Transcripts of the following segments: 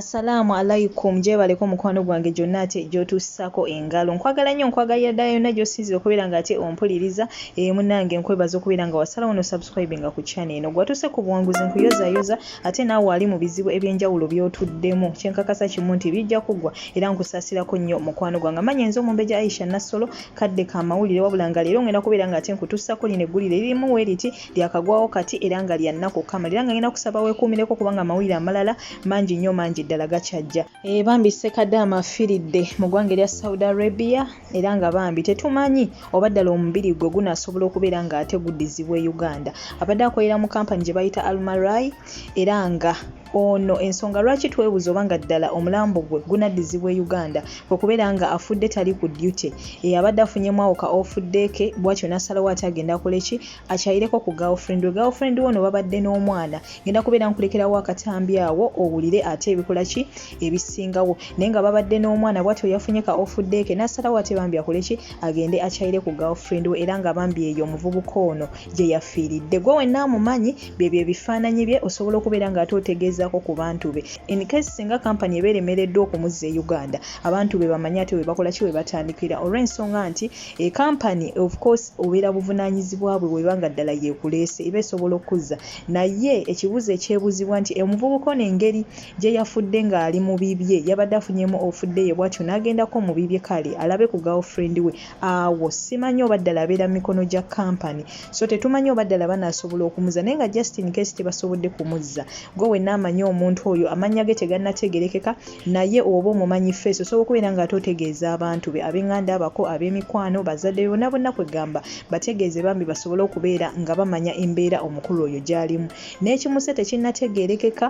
Assalaamu alaikum gyebaleko mukwano gwange gyonna ate gyotuusako engalo nkwagala nnyo nkwagalira ddala yonna gyosinzira okubeera nga ate ompuliriza ee eh, munange nkwebaza okubeera nga wasalawo no subscribe nga ku channel eno gwatuuse ku buwanguzi nkuyozayoza ate naawe wali mu bizibu ebyenjawulo byotuddemu kyenkakasa kimu nti bijja kuggwa era nkusasirako nnyo mukwano gwange amanya enze omumbeja aisha nassolo kadde ka mawulire wabula nga leero ngenda kubeera nga ate nkutuusako lino eggulire lirimu we liti lyakagwawo kati era nga lya nnaku okukamala era nga ngenda kusaba weekuumireko kubanga amawulire amalala mangi nnyo mangi ddala gakyajja eh, bambi sekadaama afiiridde mu ggwanga erya saudi arabia era nga bambi tetumanyi oba ddala omubiri gwe gunaasobola okubeera nga ate guddizibwa e uganda abadde akolera mu kampani gye bayita almarai era nga Ono ensonga lwaki twebuza oba nga ddala omulambo gwe gunaddizibwa e Uganda kwe kubeera nga afudde tali ku duty eyabadde afunyemu awo ka ofuddeeke bwatyo nasalawo ate agenda koleki akyayireko ku girlfriend we girlfriend we ono babadde n'omwana ngenda kubeera nkulekerawo akatambi awo owulire ate ebikola ki ebisingawo naye nga babadde n'omwana bwatyo yafunye ka ofuddeeke nasalawo ate bambi akoleki agende akyayire ku girlfriend we era nga bambi eyo omuvubuka ono gye yafiiridde gwe wenna amumanyi byebyo ebifaananyi bye osobola okubeera nga ate otegeezaako ku bantu be in case singa kampani ebeera emereddwa okumuzza e uganda abantu be bamanye ate webakola ki webatandikira olw'ensonga nti ekampani of course obeera buvunaanyizibwa bwe weba nga ddala yeekuleese eba esobola okukuzza naye ekibuuzo ekyebuuzibwa nti omuvubuka ono engeri gye yafudde ng'ali mu bibye yabadde afunyemu ofudde ye bwatyo n'agendako mu bibye kale alabe ku girlfriend we awo simanyi oba ddala abeera mu mikono gya kampani so tetumanyi oba ddala banaasobola okumuzza naye nga just in case tebasobodde kumuzza gwe wenna amanyi omuntu oyo amannya ge tegannategerekeka naye oba omumanyi feesi osobola okubeera nga ate otegeeza abantu be ab'enganda abako ab'emikwano bazadde bona bonna kwegamba bategeeze bambi basobole okubeera nga bamanya embeera omukulu oyo gy'alimu n'ekimuse tekinnategeerekeka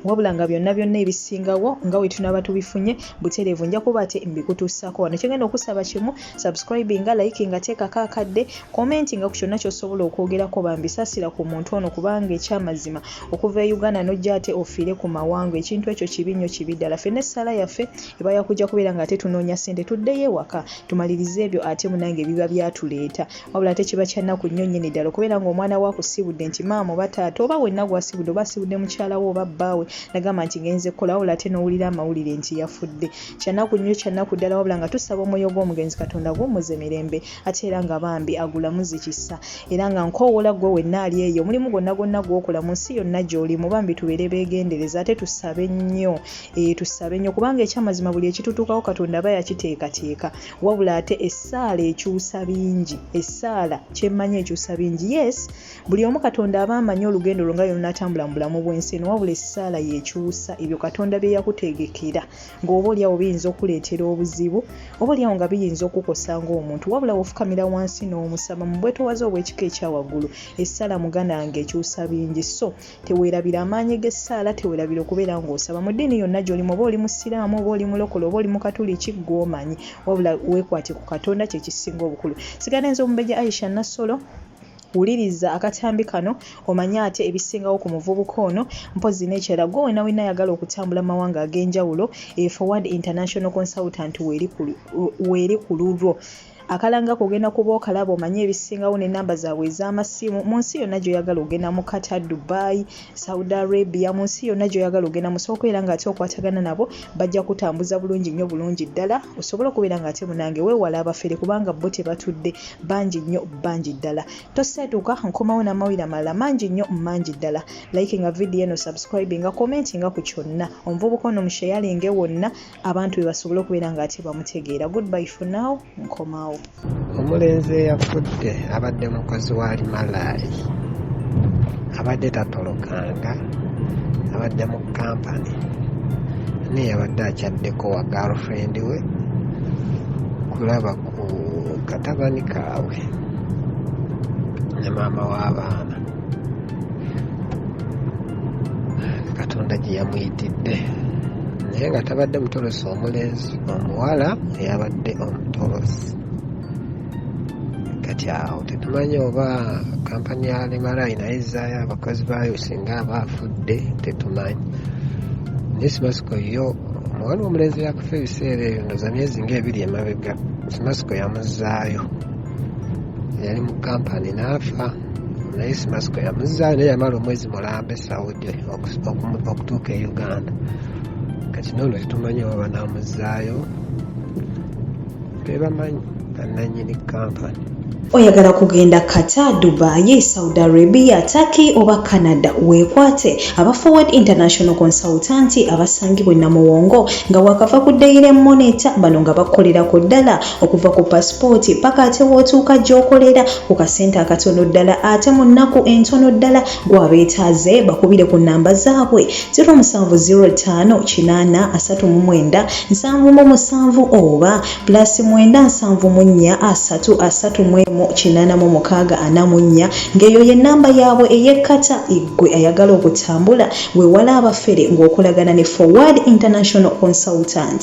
wabula nga byonna byonna ebisingawo nga bwe tunaaba tubifunye butereevu nja kuba ate mbikutuusako wano kyengenda okusaba kimu subscribinga like nga teekako akadde komenti nga ku kyonna kyosobola okwogerako bambisasira ku muntu ono kubanga ekyamazima okuva e uganda nojja ate ofiire ku mawanga ekintu ekyo kibi nnyo kibi ddala fenna essaala yaffe eba yakujja kubeera nga ate tunoonya ssente tuddeyo ewaka tumalirize ebyo ate munange ebiba byatuleeta wabula ate kiba kyannaku nnyo nnyini ddala okubeera ng'omwana wo akusiibudde nti maama oba taata oba wenna gwasiibudde oba asiibudde mukyala wo oba bbaawe nagamba nti ngenze kukola wabula ate n'owulira amawulire nti yafudde kyannaku nnyo kyannaku ddala wabula nga tusaba omwoyo gw'omugenzi katonda gwummuze mirembe ate era nga bambi agulamuzi kisa era nga nkowoola ggwe wenna ali eyo omulimu gwonna gwonna gw'okola mu nsi yonna gy'oli mu bambi tubeere beegendereza ate tusabe nnyo eh, tusabe nnyo kubanga ekyamazima buli ekitutuukako katonda aba yakiteekateeka wabula ate essaala ekyusa bingi essaala kyemmanyi ekyusa bingi yes buli omu katonda aba amanyi olugendo lwo nga yonatambula mu bulamu bw'ensi eno wabula essaala yekyusa ebyo katonda bye yakutegekera ng'oba olyawo biyinza okuleetera obuzibu oba olyawo nga biyinza okukosa ng'omuntu wabula wofukamira wansi n'omusaba mu bwetowaze obw'ekika ekyawaggulu essaala muganda wange ekyusa bingi so Teweerabira amaanyi g'essaala, teweerabira okubeera ng'osaba. Mu ddiini yonna gy'olimu, oba oli Musiraamu, oba oli Mulokole, oba oli Mukatuliki, ggwe omanyi. Wabula weekwate ku Katonda, kye kisinga obukulu. Sigala nze Omumbejja Aisha Nassolo. Wuliriza akatambi kano omanye ate ebisingawo ku muvubuka ono mpozzi n'ekirala gwe wena wena ayagala okutambula mu mawanga ag'enjawulo e Forward International Consultant weeri ku lulwo. akalanga kogenda kuba okalaba omanye ebisingawo nenamba zaabwe ez'amasimu mu nsi yonna gyoyagala ogenda mu kata dubai saudi arabia mu nsi yonna gyoyagala ogenda musooka era ngaate okwatagana nabo bajja kutambuza bulungi nnyo bulungi ddala osobole okubeera ngaate munange wewala abafere kubanga bo tebatudde bangi nnyo bangi ddala toseetuka nkomawo namawira malala mangi nnyo mangi ddala like nga vidiyo eno subscribinga commentinga ku kyonna omuvubuka ono musheyalinge wonna abantu be basobole okubeera nga ate bamutegeera goodby for now nkomawo omulenzi eyafudde abadde mukozi wa limalaari abadde tatolokanga abadde mu kampani naye yabadde akyaddeko wa girlfriend we kulaba ku katabani kaabwe ne maama w'abaana katonda gye yamuyitidde naye nga tabadde mutolosi omulenzi omuwala eyabadde omutolosi kati awo tetumanyi oba kampani ya lemarayi naye zaayo abakozi baayo singa aba afudde tetumanyi naye simasiko yo omuwala omulenzi yakufa ebiseera ebyo ndoza myezi ngaebiri emabega simasiko yamuzaayo yali mu kampani n'afa naye simasiko yamuzaayo naye yamala omwezi mulambe saudi okutuuka e uganda kati noono tetumanyi oba banamuzaayo bebamanyi bananyini kampani oyagala kugenda kata dubai saudi arabia turkey oba canada weekwate aba forward international consultanti abasangibwa enamuwongo nga wakava ku daire moneta bano nga bakukolera ku ddala okuva ku pasipooti paka ate wootuuka gy'okolera ku kasente akatono ddala ate mu nnaku entono ddala gw'abeetaaze bakubire ku nnamba zaabwe 07058397 oba pulasi 97743846 ng'eyo ye nnamba yaabwe ey'ekkata eggwe ayagala okutambula wewala abafere ng'okolagana ne forward international consultant